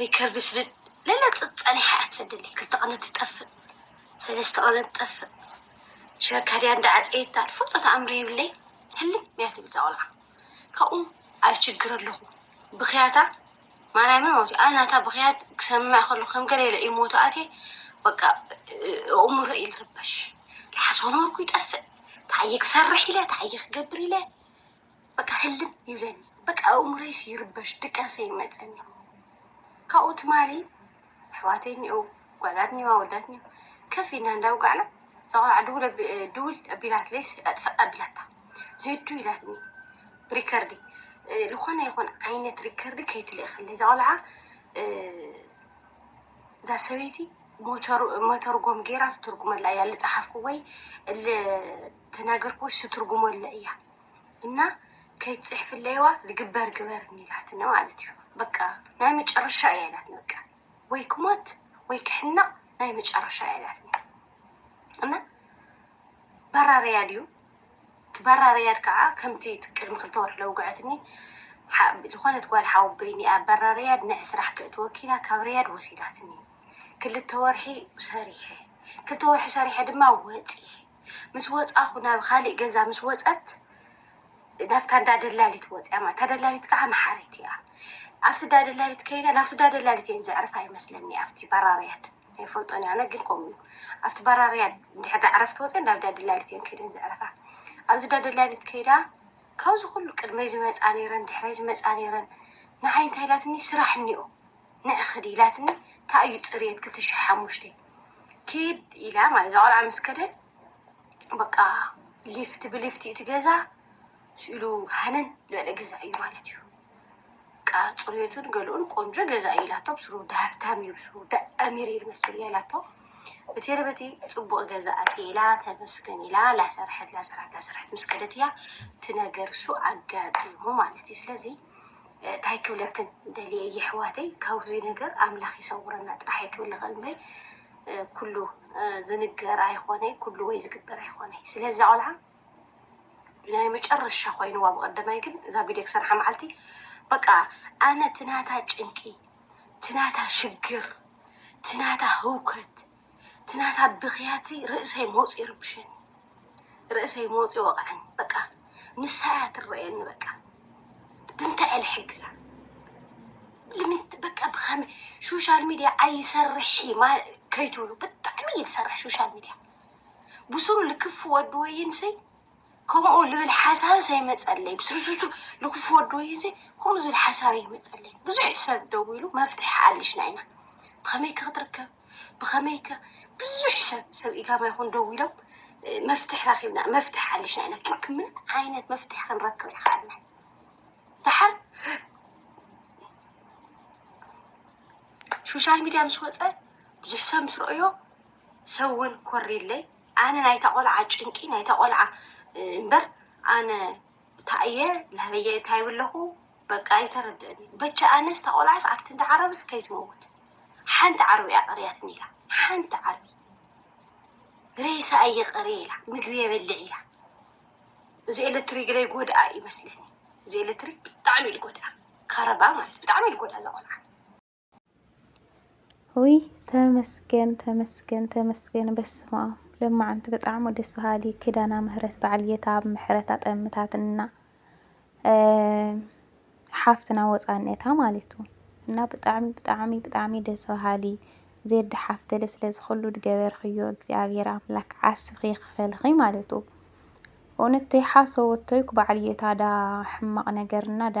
ሪከርድ ስድድ ለለጽ ጸኒሓ እያ ትሰደለይ ክልተ ቀነ ትጠፍእ ሰለስተ ቀነ ትጠፍእ ሽረካ ድያ እንዳ ዓጸየታ ትፈልጦ ተኣምር የብለይ ህልም እያ ትብል እዛ ቆልዓ ካብኡ ኣብ ችግር ኣለኹ ብኽያታ ማርያምን ማለት እዩ ኣነ ናታ ብኽያት ክሰምዕ ከሎ ከም ገለ ኢለ ኢሞቱ ኣትየ በቃ እእምሮ እዩ ዝርበሽ ልሓሶ ነበርኩ ይጠፍእ ተዓየ ክሰርሕ ኢለ ተዓየ ክገብር ኢለ በቃ ህልም ይብለኒ በቃ ኣእምሮይስ ይርበሽ ድቃሰ ይመፀኒ ካብኡ ትማሊ ኣሕዋተይ እኒኦ ጓላት እኒኦ ኣወዳት እኒኦ ከፍ ኢልና እንዳውጋዕና እዛ ቆልዓ ድውል ኣቢ- ድውል ኣቢላትለይስ ኣጥፍእ ኣቢላታ ዜዱ ኢላትኒ ሪከርዲ እ፣ ዝኾነ ይኹን ዓይነት ሪከርዲ ከይትልእኽለይ እዛ ቆልዓ እ፣ እዛ ሰበይቲ ሞተር- መተርጎም ገይራ ትትርጉመላ እያ ልፀሓፍኩ ወይ ል- ተናገርኩዎስ ትትርጉሞ ኣለ እያ እና ከይትጽሕፍለይዋ ልግበር ግበርኒ ኢላትኒ ማለት እዩ በቃ ናይ መጨረሻ እያ ኢላትኒ በቃ ወይ ክሞት ወይ ክሕነቕ ናይ መጨረሻ እያ ኢላትኒ እና በራርያ ድዩ ትበራርያድ ከዓ ከምቲ ቅድሚ ክልተ ወርሒ ለውግዐትኒ ዝኾነት ጓል ሓወበይኒ እያ በራርያድ ንዕ ስራሕ ክእት ወኪላ ካብ ርያድ ወሲዳትኒ ክልተ ወርሒ ሰሪሐ ክልተ ወርሒ ሰሪሐ ድማ ወፂ ምስ ወጻኹ ናብ ኻሊእ ገዛ ምስ ወጸት ናብታ እንዳ ደላሊት ወጽያ ማለት እታ ደላሊት ከዓ መሓሪት እያ ኣብቲ እንዳ ደላሊት ከይዳ ናብቲ እንዳ ደላሊት እየን ዘዕርፋ ይመስለኒ ኣብቲ ባራርያድ ኣይፈልጦን ኣነ ግን ከምኡ እዩ ኣብቲ ባራርያድ እንድሕር ዳ ዕረፍቲ ወፅን ናብ እንዳ ደላሊት እየን ከይደን ዘዕርፋ ኣብዚ እንዳ ደላሊት ከይዳ ካብዚ ኩሉ ቅድመይ ዝመፃ ነይረን ድሕረይ ዝመፃ ነይረን ንዓይ እንታይ ኢላትኒ ስራሕ እኒኦ ንዒ ክዲ ኢላትኒ ታይ እዩ ፅርየት ክልተ ሽሕ ሓሙሽተ ኪድ ኢላ ማለት እዛ ቆልዓ ምስ ከደ በቃ ሊፍት ብሊፍት እቲ ገዛ ስኢሉ ሃነን ዝበለ ገዛ እዩ ማለት እዩ በቃ ፅርየቱን ገለኡን ቆንጆ ገዛ እዩ ኢላቶ ብስሩ ወዲ ሃፍታም እዩ ብስሩ ወዲ ኣሚር እዩ ዝመስል እያ ኢላቶ በቲ በቲ ፅቡቅ ገዛ ኣትየ ኢላ ተመስገን ኢላ ላሰርሐት ላሰርሐት ላሰርሐት ምስ ከደት እያ እቲ ነገር እሱ ኣጋጢሙ ማለት እዩ ስለዚ ታይ ክብለክን ደልየ የሕዋተይ ካብዙይ ነገር ኣምላክ ይሰውረና ጥራሕ እየ ክብል ዝክእል እምበይ ኩሉ ዝንገር ኣይኮነይ ኩሉ ወይ ዝግበር ኣይኮነይ ስለዚ እዛ ቆልዓ ናይ መጨረሻ ኮይንዋ ብቀደማይ ግን እዛ ቪድዮ ክሰርሓ መዓልቲ በቃ ኣነ ትናታ ጭንቂ ትናታ ሽግር ትናታ ህውከት እቲ ናታ ብኽያትሲ ርእሰይ መውፂኡ ይርብሸኒ ርእሰይ መውፂኡ ይወቕዐኒ በቃ ንሳ እያ ትረአየኒ በቃ ብምንታይ እየ ልሕግዛ ልምንት በቃ ብኸመይ ሶሻል ሚድያ ኣይሰርሕ እዩ ማ- ከይትብሉ ብጣዕሚ እዩ ዝሰርሕ ሶሻል ሚድያ ብስሩ ልክፍ ወዲ ወይንሰይ ከምኡ ልብል ሓሳብስ ኣይመጸለይ ብስርዙቱ ልኩፍ ወዲ ወይዘ ከምኡ ዝብል ሓሳብ ኣይመጸለይ ብዙሕ ሰብ ደዊሉ መፍትሒ ኣልሽና ኢና ብከመይከ ክትርከብ ብከመይከ ብዙሕ ሰብ ሰብ ኢጋማ ይኩን ደዊሎም መፍትሒ ረኪብና መፍትሒ ኣልሽና ኢና ግን ምን ዓይነት መፍትሒ ክንረክብ ይክኣልና ደሓር ሶሻል ሚዲያ ምስ ወጸ ብዙሕ ሰብ ምስ ረኦዮ ሰብ እውን ኮሪለይ ኣነ ናይታ ቆልዓ ጭንቂ ናይታ ቆልዓ እምበር ኣነ ታይ እየ ናበይ እየ ታይ ኣለኩ በቃ ኣይተረደእንይ በጃ ኣነስ እታ ቆልዓስ ኣብቲ እንዳ ዓረብስ ከይትመውት ሓንቲ ዓርቢ እያ ቀርያትኒ ኢላ ሓንቲ ዓርቢ ሬሳ እየ ቀርየ ኢላ ምግቢ የበልዕ ኢላ እዚ ኤሌክትሪክ ግደይ ጎድኣ እዩ መስለኒ እዚ ኤሌክትሪክ ብጣዕሚ እዩ ዝጎድኣ ካረባ ማለት ብጣዕሚ እዩ ዝጎድኣ እዛ ቆልዓ ውይ ተመስገን ተመስገን ተመስገን በስመ አብ ለማዓንቲ ብጣዕሚ ደስ በሃሊ ኪዳና ምህረት በዓል ጌታ ኣብ ምሕረት ኣጠምታትና ሓፍትና ወፃነታ ማለት እዩ እና ብጣዕሚ ብጣዕሚ ብጣዕሚ ደስ በሃሊ ዜድ ሓፍተለ ስለዚ ኩሉ ድገበርክዮ እግዚኣብሔር ኣምላክ ዓስኺ ይኽፈልኺ ማለት እዩ እውነተይ ሓሶ ወተይኩ በዓል ጌታ ዳ ሕማቕ ነገርና ዳ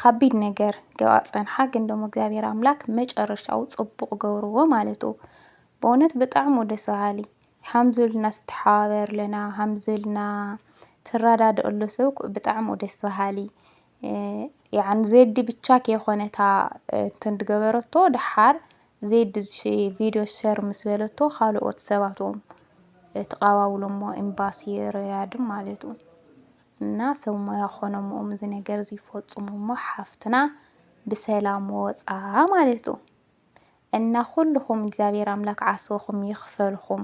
ኻቢድ ነገር ገባ ፀንሓ ግን ደሞ እግዚኣብሔር ኣምላክ መጨረሻኡ ፅቡቕ ገብርዎ ማለት እዩ። በእውነት ብጣዕሚ ደስ በሃሊ ሃምዚ ኢልና ትተሓባበርለና ሃምዚ ኢልና ትረዳድእሉ ሰብ እኮ ብጣዕሚ እዩ ደስ በሃሊ። ያዕ ዜዲ ብቻ ከይኾነ እታ እንትን ዝገበረቶ ደሓር ዜዲ ቪድዮ ሸር ምስ በለቶ ኻልኦት ሰባት እውን ተቀባብሎሞ ኤምባሲ ሪያድን ማለት እዩ። እና ሰብ ሞያ ኮኖም ኡም እዚ ነገር እዚ ይፈጽሙ እሞ ሓፍትና ብሰላም ወጻ ማለቱ እና ኩልኹም እግዚኣብሔር ኣምላክ ዓስብኹም ይኽፈልኹም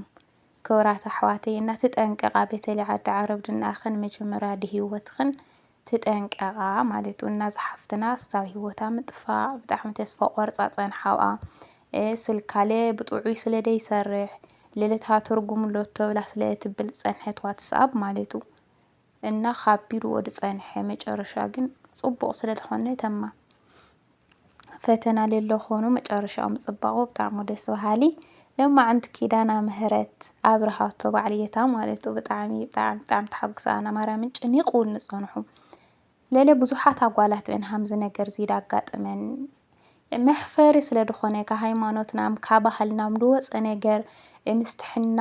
ክብራት ኣሕዋተይ እና ትጠንቀቃ በተለይ ዓዲ ዓረብ ድናኣኽን መጀመርያ ድህይወትኽን ትጠንቀቃ ማለቱ እና ዝሓፍትና ሳብ ህይወታ ምጥፋእ ብጣዕሚ ተስፋ ቆርጻ ጸንሓዋ ስልካለ ብጥዑይ ስለ ደይሰርሕ ልልታ ትርጉም ሎቶ ብላ ስለ ትብል ጸንሐትዋ ትስኣብ ማለቱ እና ኻቢድዎ ዝጸንሐ መጨረሻ ግን ጽቡቕ ስለ ዝኾነ ተማ ፈተና ሌሎ ኾኑ መጨረሻኡ ምጽባቑ ብጣዕሚ ደስ በሃሊ ለማዓንቲ ኪዳና ምህረት ኣብርሃቶ ባዕልየታ ማለት ዩ ብጣዕሚ ብጣዕሚ ብጣዕሚ ተሓጉሰ ኣና ማርያምን ጨኒቑውን ንጸንሑ ለለ ብዙሓት ኣጓላት እን ሃምዚ ነገር ዚዳ ኣጋጥመን መሕፈሪ ስለ ዝኾነ ካብ ሃይማኖትናም ካብ ባህልናም ዝወፀ ነገር ምስትሕና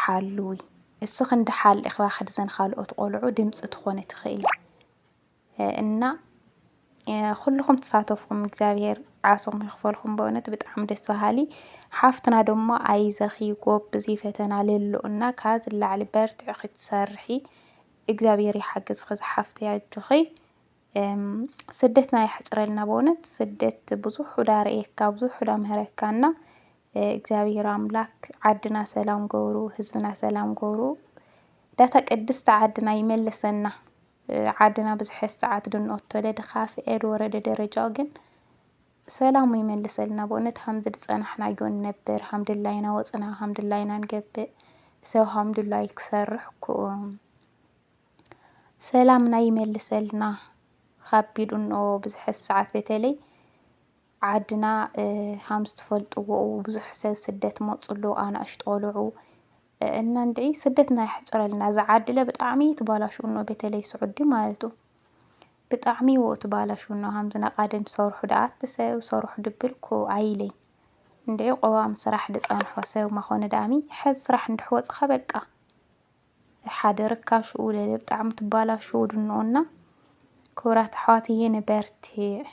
ሓሉዊ እስ ክንዲ ሓል ኢኽባ ክድዘን ኻልኦት ቆልዑ ድምፂ ትኾኒ ትኽእሊ እና ኩልኹም ትሳተፍኹም እግዚኣብሔር ዓሶም ይኽፈልኩም በእውነት ብጣዕሚ ደስ በሃሊ ሓፍትና ደሞ ኣይዘኺ ጎብዚ ፈተና ለሎ እና ካብ ዝለዓሊ በርትዕ ክትሰርሒ እግዚኣብሔር ይሓግዝኺ ዝሓፍተይ ኣጆኺ ስደትና የሕፅረልና በእውነት ስደት ብዙሕ ዕዳ ርእየካ ብዙሕ ዕዳ ምህረካ እና እግዚኣብሔር ኣምላክ ዓድና ሰላም ገብሩ ህዝብና ሰላም ገብሩ ዳታ ቅድስቲ ዓድና ይመልሰና ዓድና ብዝሐስ ሰዓት ድንኦቶለ ድካፍ ኤድ ወረደ ደረጃው ግን ሰላሙ ይመልሰልና በእውነት ሀምዚ ድጸናሕናዮ ንነብር ሀምድላይና ወፅና ሀምድላይና ንገብእ ሰብ ሀምድላይ ክሰርሕ ክኡም ሰላምና ይመልሰልና ካብ ቢዱኖ ብዝሐ ሰዓት በተለይ ዓድና ሃም ዝትፈልጥዎ ብዙሕ ሰብ ስደት መጹ ኣሎ ኣናእሽቱ ቆልዑ እና እንድዒ ስደትና የሕጽረልና እዛ ዓድለ ብጣዕሚ ትባላሽው እኖ በተለይ ስዑዲ ማለቱ ብጣዕሚ ወኡ ትባላሽው እኖ ሃም ዝነቃደም ሰርሑ ደኣት ሰብ ሰርሑ ድብልኩ ኣይለይ እንድዒ ቆዋም ስራሕ ድጸንሖ ሰብ ማኾነ ደኣሚ ሕዝ ስራሕ እንድሕወጽኻ በቃ ሓደ ርካሽኡ ለለ ብጣዕሚ ትባላሽው ድንቁና ክብራት ኣሕዋትዬ ንበርቲዕ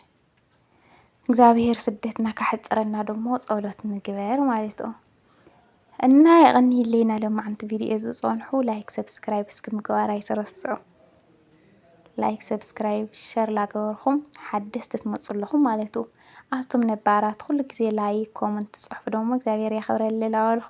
እግዚኣብሔር ስደትና ካሕፅረና ደሞ ጸሎት ንግበር ማለት ኦ እና የቐንይለይና ለማዓንቲ ቪድዮ ዝጸንሑ ላይክ ሰብስክራይብ እስኪ ምግባር ኣይትረስዑ ላይክ ሰብስክራይብ ሸር ላገበርኹም ሓደስቲ ትመፁ ኣለኹም ማለት ኡ ኣቱም ነባራት ኩሉ ግዜ ላይክ ኮመንት ትፅሕፉ ደሞ እግዚኣብሔር ያኽብረልና በልኹ